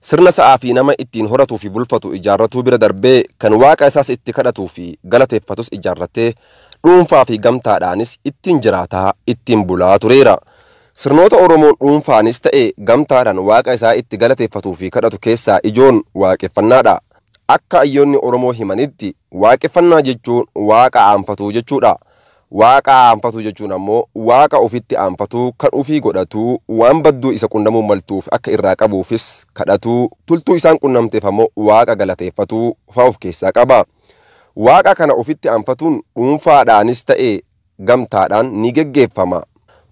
Sirna sa'aa fi nama ittiin horatuu fi bulfatu ijaarratuu bira darbee kan waaqa isaas itti kadhatuu fi galateeffatus ijaarratee dhuunfaa fi gamtaadhaanis ittiin jiraataa, ittiin bulaa tureera. Sirnoota Oromoon dhuunfaanis ta'e gamtaadhaan waaqa isaa itti galateeffatuu fi kadhatu keessaa ijoon waaqeffannaadha. Akka hayyoonni Oromoo himanitti waaqeffannaa jechuun waaqa aanfatuu jechuudha. Waaqa aanfatuu jechuun ammoo Waaqa ufitti aanfatuu, kan ufii godhatuu, waan badduu isa qunnamuu maltuuf akka irraa qabuufis kadhatuu, tultuu isaan qunnamteef ammoo Waaqa galateeffatuu faa uf keessaa qaba. Waaqa kana ufitti aanfatuun dhuunfaadhaanis ta'e gamtaadhaan ni geggeeffama.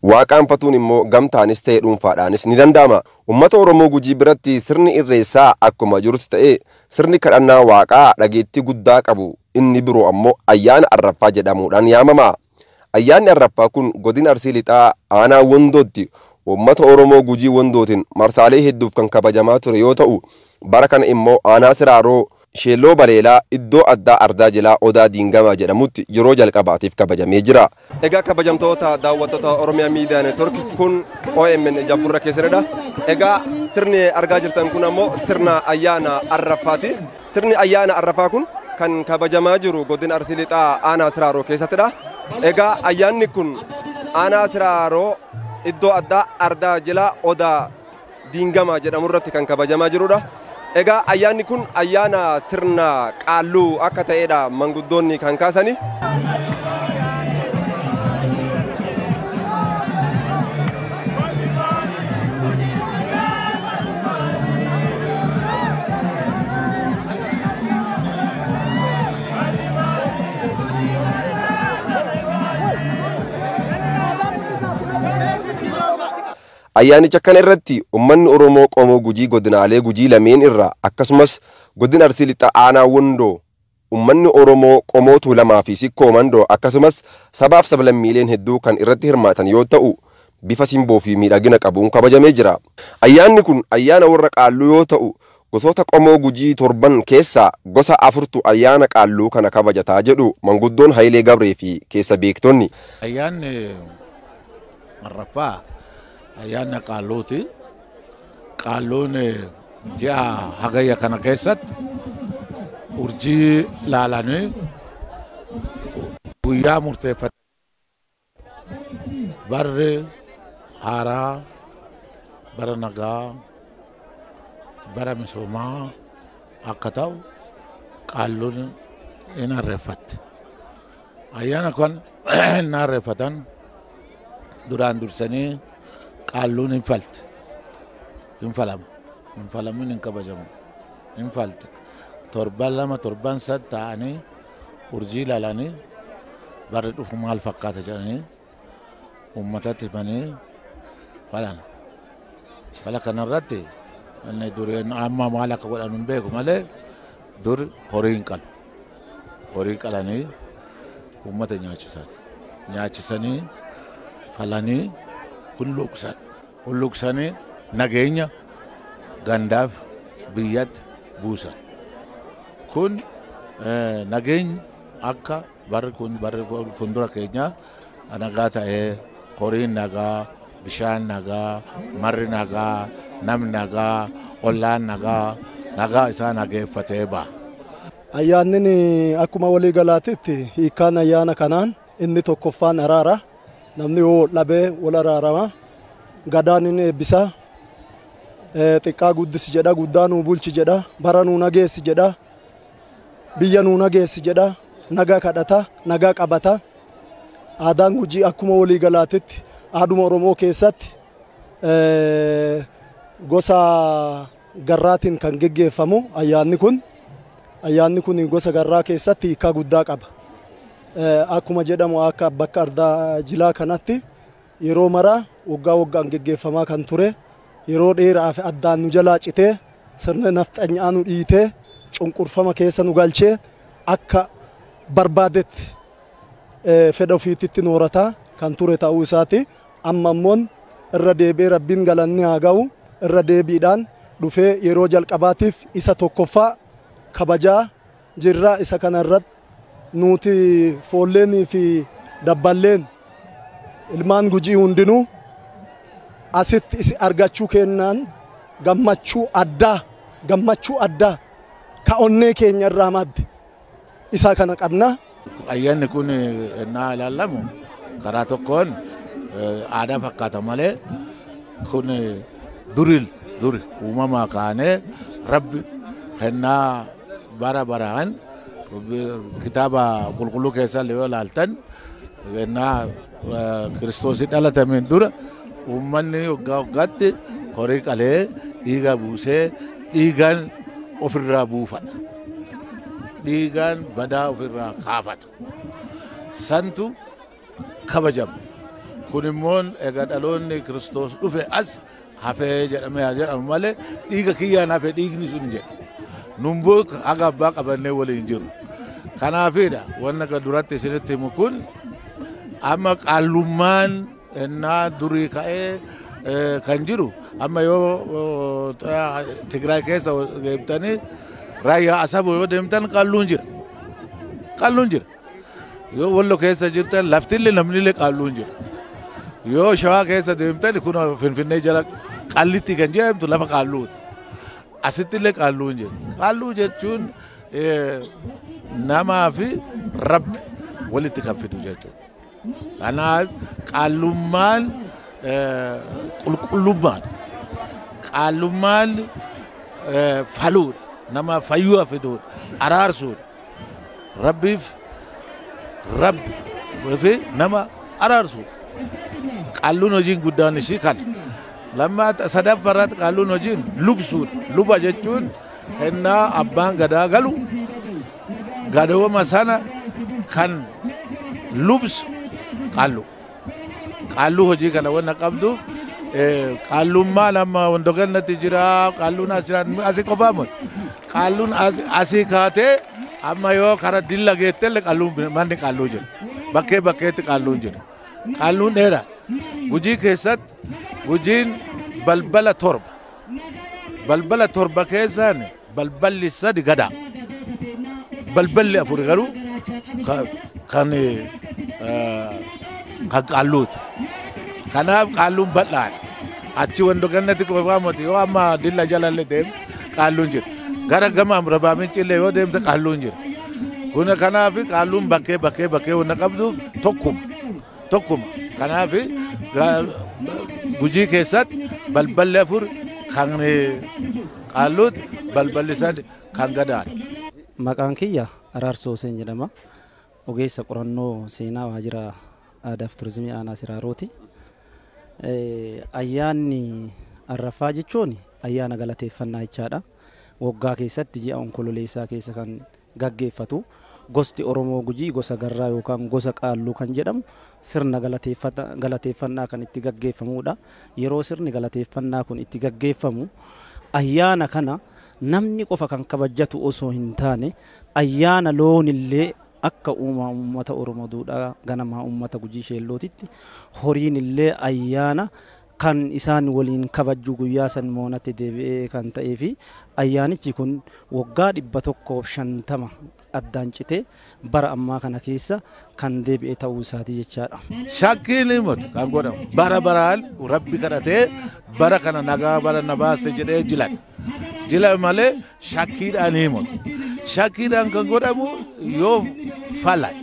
Waaqa aanfatuun immoo gamtaanis ta'e dhuunfaadhaanis ni danda'ama. Ummata Oromoo Gujii biratti sirni Irreessaa akkuma jirutti ta'ee, sirni kadhannaa Waaqaa dhageettii guddaa qabu. Inni biroo ammoo Ayyaana Arraffaa jedhamuudhaan yaamama. Ayyaanni Arraffaa kun Godina Arsii Lixaa Aanaa Wondootti uummata Oromoo Gujii Wondootiin marsaalee hedduuf kan kabajamaa ture yoo ta'u, bara kana immoo Aanaa Siraaroo, Sheelloo Baleelaa, iddoo addaa Ardaa Jilaa Odaa Diingamaa jedhamutti yeroo jalqabaatiif kabajamee jira. Egaa kabajamtoota daawwattoota Oromiyaa Miidiyaa Neetwork kun OMN ija gurra keessanidha. Egaa sirni argaa jirtan kun ammoo sirna ayyaana arraffaati. Sirni ayyaana arraffaa kun kan kabajamaa jiru godina Arsii Lixaa aanaa Siraaroo keessattidha. Egaa ayyaanni kun aanaa Siraaroo iddoo addaa Ardaa Jilaa Odaa Diingamaa jedhamu irratti kan kabajamaa jirudha. Egaa ayyaanni kun ayyaana sirna qaalluu akka ta'edha manguddoonni kan kaasani. Ayyaanicha kana irratti ummanni Oromoo Qomoo Gujii godinaalee Gujii lameen irraa akkasumas Godina Arsii Lixaa Aanaa Wondoo ummanni Oromoo Qomoo Tuulamaa fi Sikkoo Mandoo akkasumas sabaaf sablammiileen hedduu kan irratti hirmaatan yoo ta'u bifa simboo fi miidhagina qabuun kabajamee jira. Ayyaanni kun ayyaana warra Qaalluu yoo ta'u Gosoota qomoo Gujii torban keessaa gosa afurtu ayyaana Qaalluu kana kabajata jedhu manguddoon Hayilee Gabree fi keessa beektonni. Ayyaanni arfaffaa ayyaana Qaalluuti. Qaalluun ji'a Hagayya kana keessatti urjii laalanii guyyaa murteeffatanii Barri haaraa bara nagaa, bara misoomaa akka ta'u Qaalluun hin harreeffatti. Ayyaana kan hin harreeffatan duraan dursanii Qaalluun hin falti. Hin falamu. Hin falamin hin kabajamu. Hin falti. Torban lama torban sad ta'anii urjii ilaalanii barri dhufu maal fakkaata jedhanii uummatatti himanii falan. Fala kanarratti inni dureen amma maal akka godhan hin beeku malee dur horii hin qalu. Horii qalanii uummata nyaachisan. Nyaachisanii falanii kun luqsan. hulluuqsanii nageenya gandaaf biyyatti buusan. Kun nageenyi akka barri kun barri fuuldura keenyaa nagaa ta'ee horiin nagaa, bishaan nagaa, marri nagaa, namni nagaa, ollaan nagaa, nagaa isaa nageeffatee ba'a. Ayyaannin akkuma walii galaatitti hiikkaan ayyaana kanaan Inni tokkoffaan araara. Namni yoo wal dhabe wal araarama. Gadaan inni eebbisa. Xiqqaa guddisi jedha, guddaa nuu bulchi jedha, bara nuu nageessi jedha, biyya nuu nageessi jedha, nagaa kadhata, nagaa qabata. Aadaan Gujii akkuma walii galaatitti aaduma Oromoo keessatti gosa Garraatiin kan geggeeffamu ayyaanni kun ayyaanni kun gosa garraa keessatti hiikkaa guddaa qaba. Akkuma jedhamu akka bakka ardaa jilaa kanatti yeroo maraa waggaa waggaan geggeeffamaa kan ture yeroo dheeraaf addaan nu jalaa citee sirna nafxanyaa nu dhiitee cunqurfama keessa nu galchee akka barbaadetti fedha ofiititti noorataa kan ture ta'uu isaati. Amma immoon irra deebi'ee Rabbiin galanni haa gahu irra deebiidhaan dhufee yeroo jalqabaatiif isa tokkoffaa kabajaa jirra isa kana irratt nuuti foolleenii fi dabballeen ilmaan Gujii hundinuu asitt isi argachuu keennaan gammachuu addaa gammachuu addaa ka onnee keenya irraa madde isaa kana qabna. Ayyaanni kun ennaa ilaallamu karaa tokkoon aadaa fakkaata malee kun duri duri uumamaa kaanee rabbi ennaa bara baraan kitaaba qulqulluu keessaa yoo ilaaltan ennaa Kiristoos dhalatameen dura uummanni waggaa waggaatti horii qalee dhiigaa buusee dhiigaan ofirraa buufata. Dhiigaan badaa ofirraa kaafata. Santu kabajama. Kun immoo egaa dhaloonni Kiristoos dhufe as hafe jedhamee haa jedhamu malee dhiiga kiyyaan hafe dhiigni sun hin jedhu. Nun book haga abbaa qabannee waliin jiru. Kanaafidha wanna ga duratti isinitti himu kun amma qaallummaan ennaa durii ka'ee eh, kan jiru amma yoo oh, ta- Tigraay keessa deemtanii raayyaa asaboo yoo deemtan qalluun jira. Qalluun jira. Yoo Wallo keessa jirtan laftille namnille qaalluun jira. Yoo Shawaa keessa deemtan kun Finfinnee jala qallitti kan jedhamtu lafa qaalluuti. Asittillee qaalluun jira. Qaalluu jechuun namaa fi rabbi walitti kan fidu jechuudha. Kanaaf qaallummaan qulqullummaadha. Qaallummaan faluudha. Nama fayyuu fiduudha. Araarsuudha. Rabbiif rabbi fi nama araarsuudha. Qaalluun hojiin guddaan isii kana. Lammaata sadaffaa irratti qaalluun hojiin lubsuudha. Luba jechuun hennaa abbaan gadaa galu gadooma sana kan lubsu qaallu qaalluu hojii kana wanna qabduuf qaallummaan amma wando gannatti jira qaalluun asii qofaa miti qaalluun asii kaatee amma yoo kara dilla geettelle qaalluun manni qaalluu jira bakkee bakkeetti qaalluun jira qaalluun dheera gujii keessatti gujiin balbala torba balbala torba keessaan Balballi sadi gada. Balballi afur garuu kan kan qaalluuti. Kanaaf qaalluun bal'aadha. Achi wando gannatti qofaa moti yoo amma dilla jalalle deemte qaalluun jira. Gara gama amrabaa mincillee yoo deemte qaalluun jira. Kun kanaaf qaalluun bakkee bakkee bakkee wanta qabdu tokkuma. Tokkuma. Kanaaf gujii keessatti balballi afur kan Qaalluuti, balballi sad kan Gadaati. Maqaan kiyya Araarsoo Huseen jedhama. Ogeessa qorannoo seenaa waajjira Aadaaf Turizimii Aanaa Siraarooti. Ayyaanni Arraffaa jechuun ayyaana galateeffannaa jechaadha. Waggaa keessatti ji'a Onkololeessaa keessa kan gaggeeffatu. Gosti Oromoo Gujii gosa Garraa yookaan gosa Qaalluu kan jedhamu sirna galateeffata galateeffannaa kan itti gaggeeffamuudha. Yeroo sirni galateeffannaa kun itti gaggeeffamu ayyaana kana namni qofa kan kabajjatu osoo hin taane ayyaana loon illee akka uumaa uummata Oromoo duudhaa ganamaa uummata Gujii Sheellootitti horiin illee ayyaana kan isaan waliin kabajju guyyaa san moonatti deebi'ee kan ta'ee fi ayyaanichi kun waggaa 150 addaan citee bara ammaa kana keessa kan deebi'e ta'uu isaati jechaadha. Shakkiin himatu kan godhamu bara baraan rabbi kadhatee bara kana nagaa bara na baaste jedhee jilan jila malee shakkiidhaan himatu shakkiidhaan kan godhamu yoo falay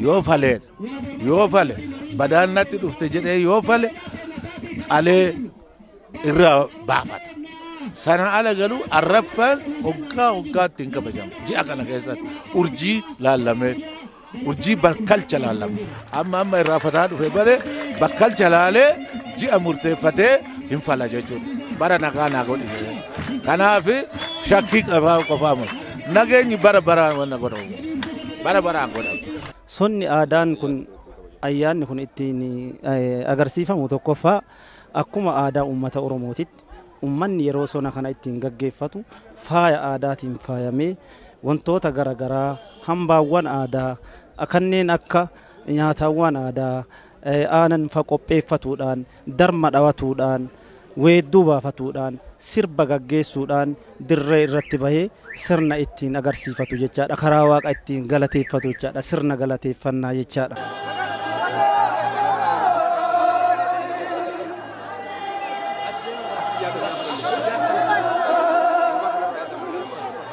yoo falee yoo fale badaan natti dhufte jedhee yoo fale qalee irraa baafata. Sana ala galuu arraffaan hoggaa hoggaatti hin kabajamu. Ji'a kana keessatti urjii laallamee urjii bakkalcha laallame. Amma amma irraa fataa dhufe bare bakkalcha laalee ji'a murteeffatee hin fala jechuudha. Bara nagaa naa godhi. Kanaaf shakkii qabaa qofaa miti. Nageenyi bara baraan wanna godhamu. Bara baraan godhamu. Sonni aadaan kun ayyaanni kun ittiin agarsiifamu tokkoffaa akkuma aadaa uummata Oromootitti uummanni yeroo sona kana ittiin gaggeeffatu faaya aadaatiin faayamee wantoota gara garaa hambaawwan aadaa kanneen akka nyaataawwan aadaa, aanan fa'a qopheeffatuudhaan darma dhawatuudhaan, weedduu baafatuudhaan, sirba gaggeessuudhaan dirree irratti bahee sirna ittiin agarsiifatu jechaadha. Karaa Waaqa ittiin galateeffatu jechaadha. Sirna galateeffannaa jechaadha.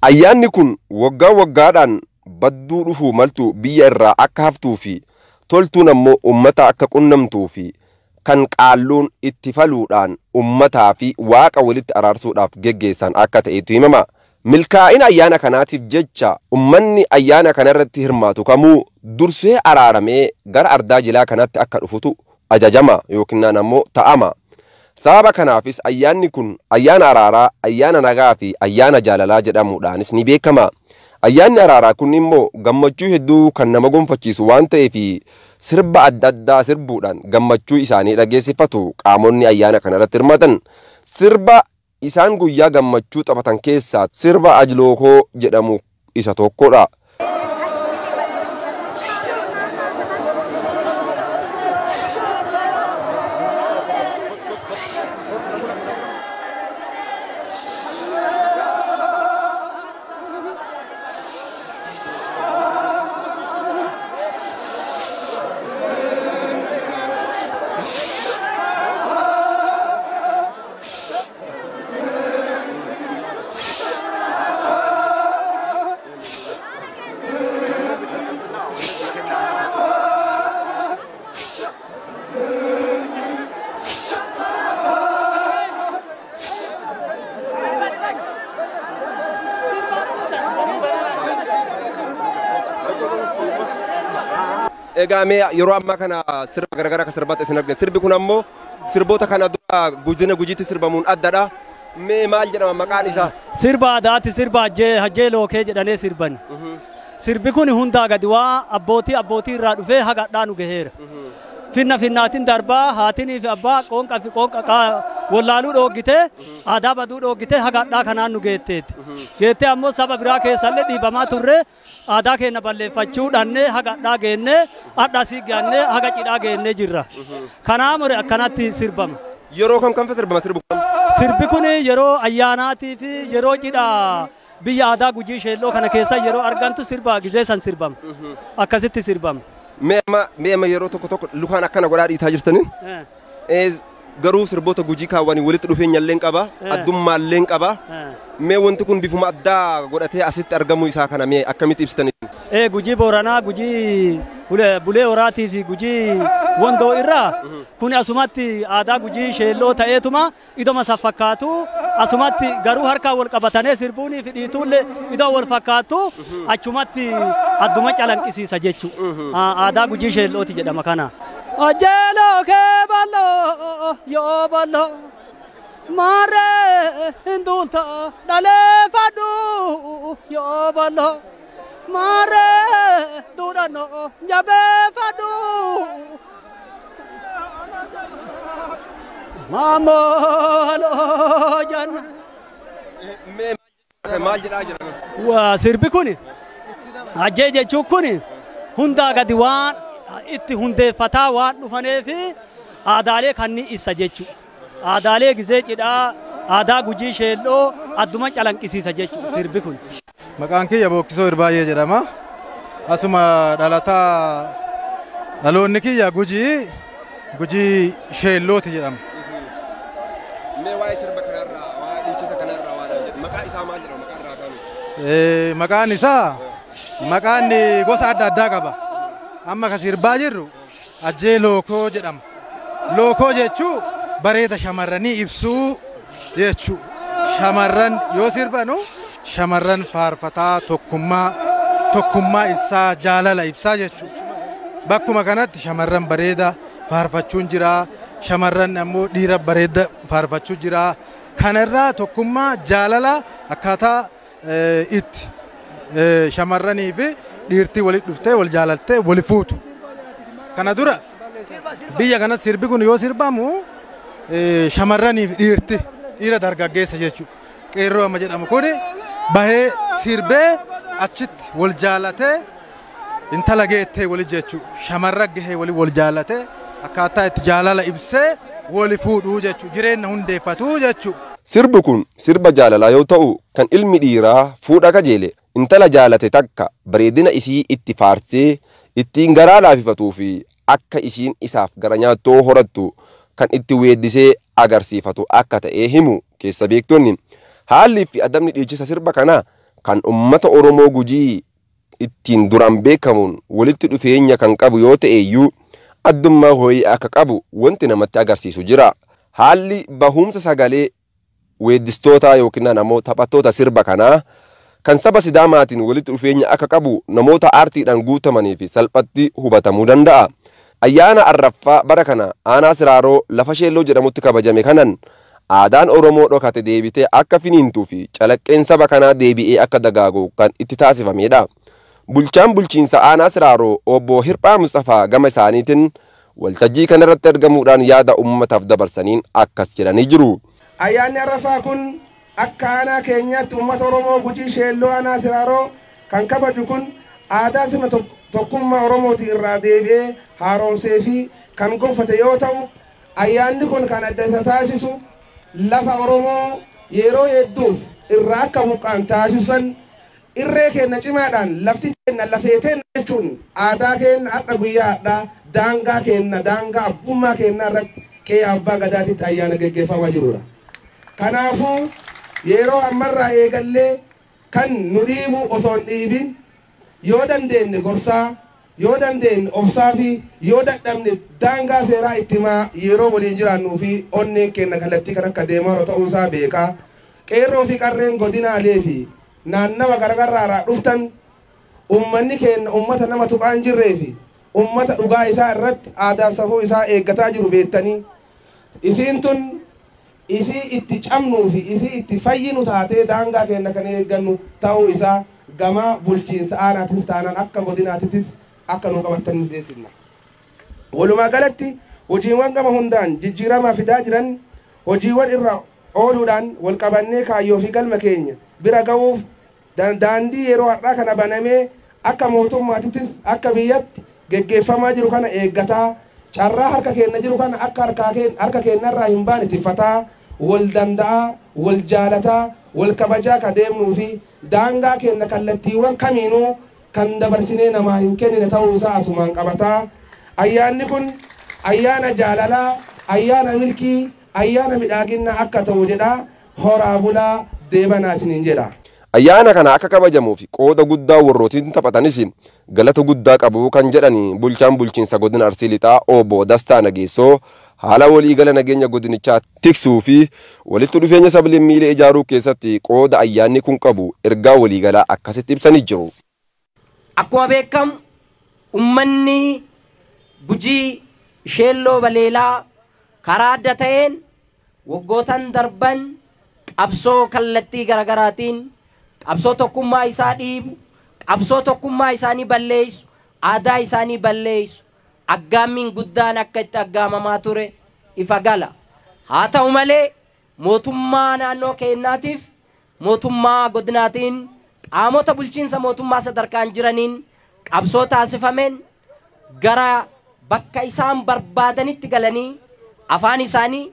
Ayyaanni kun waggaa waggaadhaan badduu dhufuu maltu biyya irraa akka haftuu fi toltuun ammoo ummata akka qunnamtuu fi kan Qaalluun itti faluudhaan ummataa fi Waaqa walitti araarsuudhaaf geggeessan akka ta'etu himama. Milkaa'ina ayyaana kanaatiif jecha ummanni ayyaana kana irratti hirmaatu kamuu dursee araaramee gara ardaa jilaa kanaatti akka dhufutu ajajama yookinnaan ammoo ta'ama. Sababa kanaafis ayyaanni kun ayyaana araaraa, ayyaana nagaa fi ayyaana jaalalaa jedhamuudhaanis ni beekama. Ayyaanni araaraa kun immoo gammachuu hedduu kan nama gonfachiisu waan ta'eef sirba adda addaa sirbuudhaan gammachuu isaanii dhageessifatu qaamonni ayyaana kanarratti hirmaatan. Sirba Isaan guyyaa gammachuu taphatan keessaa sirba Ajlookoo jedhamu isa tokkodha. Egaa mee yeroo ammaa kana sirba garaagaraa akka sirbaatti isin argina. Sirbi kun ammoo Sirboota kana dura Godina Gujiitti sirbamuun addadha. Mee maal jedhama maqaan isaa? Sirba aadaati sirba hajjee hajjee lookee jedhanee sirbani. Sirbi kun hundaa gadi waa abbootii abbootii irraa dhufee haga hadhaa nu gaheera. Finna finnaatiin darbaa haatinii fi abbaa qoonqa fi qoonqa qaa- wallaaluu dhooggitee aadaa baduu dhooggitee haga hadhaa kanaan nu geetteetti. Geettee ammoo saba biraa keessallee dhiibamaa turree Aadaa keenna balleeffachuu dhannee haga adhaa geenne, adha asii geannee haga cidhaa geennee jirra. Kanaa more akkanatti sirbama. Yeroo kam kamfa sirbama sirbi kun? Sirbi kun yeroo ayyaanaatii fi yeroo cidha biyya aadaa Gujii Sheelloo kana keessa yeroo argantu sirba gizee san sirbama. Akkasitti sirbama. Mee amma mee amma yeroo tokko tokko lukaan akkana godhaa dhiitaa jirtaniin Eh. Garuu sirboota Gujii kaan waliin walitti dhufeenyalleen qaba, addummaalleen qaba. Mee wanti kun bifuma addaa godhatee asitti argamuu isaa kana mee akkamitti ibsitan isin? Ee Gujii Booranaa, Gujii Bulee Horaatii fi Gujii Wondoo irraa kuni asumatti aadaa Gujii sheelloo ta'eetuma idoma san fakkaatu asumatti garuu harkaan wal qabatanee sirbuunii fi dhiituulle idoo wal fakkaattu achumatti adduma calanqisiisa jechu aadaa gujii sheellooti jedhama kana. Ajjeeloo kee bal'oo yoo bal'oo maarree hin duulta dhaleeffadhu yoo bal'oo maarree duudhannoo jabeeffadhu Maamoloo janna. Maal jedhaa jira? Waa sirbi kun ajjee jechuun kun hundaa gadi waan itti hundeeffataa waan dhufanee fi aadaalee kanneen ibsa jechuudha. Aadaalee gizee cidhaa, aadaa gujii sheelloo adduma calanqisiisa jechuudha sirbi kun. Maqaan kiyya Bookkisoo Irbaayyee jedhama. Asuma dhalataa dhaloonni kiyya Gujii Gujii Sheellooti jedhama. Mee waa'ee sirba kanarraa, waa'ee dhiichisa kanarraa waan jedhu. Maqaa isaa maal jedhama maqaa irraa kaanu? Eh, Maqaan isaa maqaan gosa adda addaa qaba. Amma kan sirbaa jirru Ajjee Lookoo jedhama. Lookoo jechuu bareeda shamarranii ibsuu jechuu. Shamarran yoo sirbanu shamarran faarfataa tokkummaa tokkummaa ibsaa jaalala ibsaa jechuu. Bakkuma kanatti shamarran bareeda faarfachuun jira. Shamarran ammoo dhiira bareeda faarfachuu jira. Kanarraa tokkummaa jaalala akkaataa itti shamarranii fi dhiirtii walitti dhuftee wal jaalattee wali fuutu. Kana dura biyya kanatti sirbi kun yoo sirbamu shamarranii fi dhiirti dhiira dargaggeessa jechuudha. Qeerroo amma jedhamu kun bahee sirbee achitti wal jaalatee intala geettee wali jechu shamarra gahee wali wal jaalate akkaataa itti jaalala ibsee wali fuudhuu jechu jireenna hundeeffatuu jechu. Sirbi kun sirba jaalalaa yoo ta'u kan ilmi dhiiraa fuudha kajeele intala jaalate takka bareedina isii itti faarsee ittiin garaa laafifatuu fi akka ishiin isaaf gara nyaattoo horattu kan itti weeddisee agarsiifatu akka ta'ee himu keessa beektonni. Haalli fi adabni dhiichisa sirba kanaa kan ummata Oromoo Gujii ittiin duraan beekamuun walitti dhufeenya kan qabu yoo ta'eyyuu addummaa ho'ii akka qabu wanti namatti agarsiisu jira. Haalli bahuumsa sagalee weeddistootaa yookinnaan ammoo taphattoota sirba kanaa kan saba Sidaamaatiin walitti dhufeenya akka qabu namoota aartiidhaan guutamaniif salphatti hubatamuu danda'a. Ayyaana arraffaa bara kana aanaa Siraaroo lafa Sheelloo jedhamutti kabajame kanan Aadaan Oromoo dhokate deebitee akka finiintuu fi calaqqeen saba kanaa deebi'ee akka dagaagu kan itti taasifameedha. Bulchaan Bulchiinsa Aanaa Siraaroo Obbo Hirphaa Musxafaa gama isaaniitin waltajjii kanarratti argamuudhaan yaada ummataaf dabarsaniin akkas jedhanii jiru. Ayyaanni Arrafaa kun akka aanaa keenyaatti ummata Oromoo Gujii Sheelloo Aanaa Siraaroo kan kabaju kun aadaa sirna tokkummaa Oromooti irraa deebi'ee haaromsee fi kan gonfate yoo ta'u, Ayyaanni kun kan adda isa taasisu lafa Oromoo yeroo hedduuf irraa akka buqqa'an taasissan irree keenna cimaadhaan lafti teenna lafee teenna jechuun aadaa keenna har'a guyyaa har'aa daangaa keenna daangaa abbummaa keennaa irratti qe'ee Abbaa Gadaatitti ayyaana geggeeffamaa jiruudha. Kanaafuu yeroo ammarraa eegallee Kan nu dhiibu osoo hin dhiibin yoo dandeenye gorsaa, yoo dandeenye obsaafi yoo dadhabne daangaa seeraa itti himaa yeroo waliin jiraannuufi onneen keenya kallattii kan akka deemaarra ta'uusaa beekaa Qeerroofi Qarreen godinaaleefi naannawa garagarraaraa dhuftan ummanni keenya ummata nama tuqaa hin jirreefi ummata dhugaa isaa irratti aadaaf safuu isaa eeggataa jiru beettanii isiin tun isii itti cabnuu fi isii itti fayyinu taatee daangaa keenna kan eeggannu ta'uu isaa gama bulchiinsa aanaatis taanaan akka godinaatitis akka nuu qabattan ni beeksifna. Walumaa galatti hojiiwwan gama hundaan jijjiirama fidaa jiran hojiiwwan irra ooluudhaan wal qabannee kaayyoo fi galma keenya bira ga'uuf Daandii yeroo har'aa kana banamee akka mootummaatittis akka biyyatti geggeeffamaa jiru kana eeggataa, carraa harka keenna jiru kana akka harkaa harka keennarraa hin baane tiffataa, wal danda'aa, wal jaalataa, wal kabajaa ka deemnuu fi daangaa keenna kallattiiwwan kamiinuu kan dabarsinee namaa hin kennine ta'uu isaa asumaan qabataa, ayyaanni kun ayyaana jaalalaa, ayyaana milkii, ayyaana midhaaginnaa akka ta'u jedhaa Horaa bulaa deebanaa isiniin jedha. Ayyaana kana akka kabajamuuf qooda guddaa warrootiin taphatanis galata guddaa qabu kan jedhan bulchaan bulchiinsa godina Arsii Lixaa Obbo Dastaa Nageessoo haala waliigala nageenya godinichaa tiksuu fi walitti dhufeenya sablammiilee ijaaruu keessatti qooda ayyaanni kun qabu ergaa waliigalaa akkasitti ibsanii jiru. Akkuma beekamu ummanni Gujii Sheelloo Baleelaa karaa adda ta'een waggootan darban qabsoo kallattii garagaraatiin qabsoo tokkummaa isaa dhiibu, qabsoo tokkummaa isaanii balleessu, aadaa isaanii balleessu aggaammiin guddaan akka itti aggaamamaa ture ifa gala. Haa ta'u malee mootummaa naannoo keennaatiif Mootummaa Godinaatiin qaamota bulchiinsa mootummaa sadarkaan jiraniin qabsoo taasifameen gara bakka isaan barbaadanitti galanii afaan isaanii,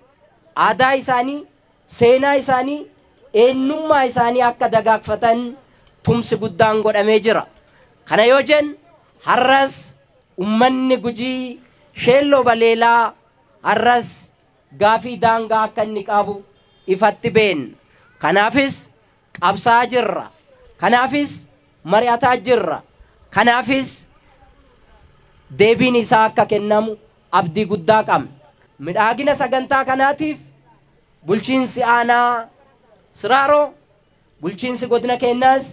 aadaa isaanii, seenaa isaanii, eennummaa isaanii akka dagaagfatan tumsi guddaan godhamee jira. Kana yoo jennu har'as ummanni Gujii Sheelloo Baleelaa har'as gaafii daangaa akka inni qabu ifatti beenna. Kanaafis qabsaa'aa jirra. Kanaafis mari'ataa jirra. Kanaafis deebiin isaa akka kennamu abdii guddaa qabna. Midhaagina sagantaa kanaatiif Bulchiinsi Aanaa Siraaroo. Bulchiinsi godina keenyaas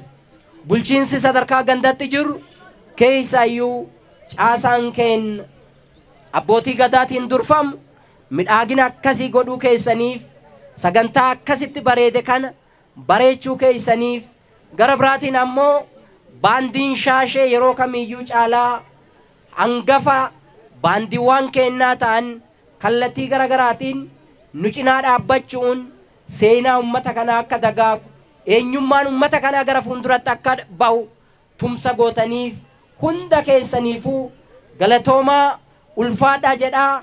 bulchiinsi sadarkaa gandatti jiru keessaayyuu caasaan keenya Abbootii Gadaatiin durfamu midhaagina akkasii godhuu keessaniif sagantaa akkasitti bareede kana bareechuu keessaniif gara biraatiin ammoo Baandiin Shaashee yeroo kamiiyyuu caalaa hangafa baandiiwwaan keenyaa ta'an kallattii gara garaatiin nu cinaa dhaabbachu'uun Seenaa ummata kanaa akka dagaagu, eenyummaan ummata kanaa gara fuulduratti akka bahu tumsa gootaniif hunda keessaniifuu galatoomaa, ulfaadhaa jedhaa.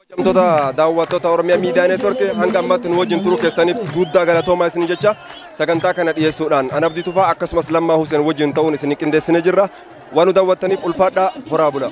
Kabajamtoota daawwattoota Oromiyaa Miidiyaa Neetworkii hanga ammatti nu wajjin turuu keessaniif guddaa galatoomaa isin jecha sagantaa kana dhiyeessuudhaan an Abdii Tufaa akkasumas Lammaa Huseen wajjin ta'uun isin qindeessine jirra. Waan nu daawwattaniif ulfaadhaa horaa bula.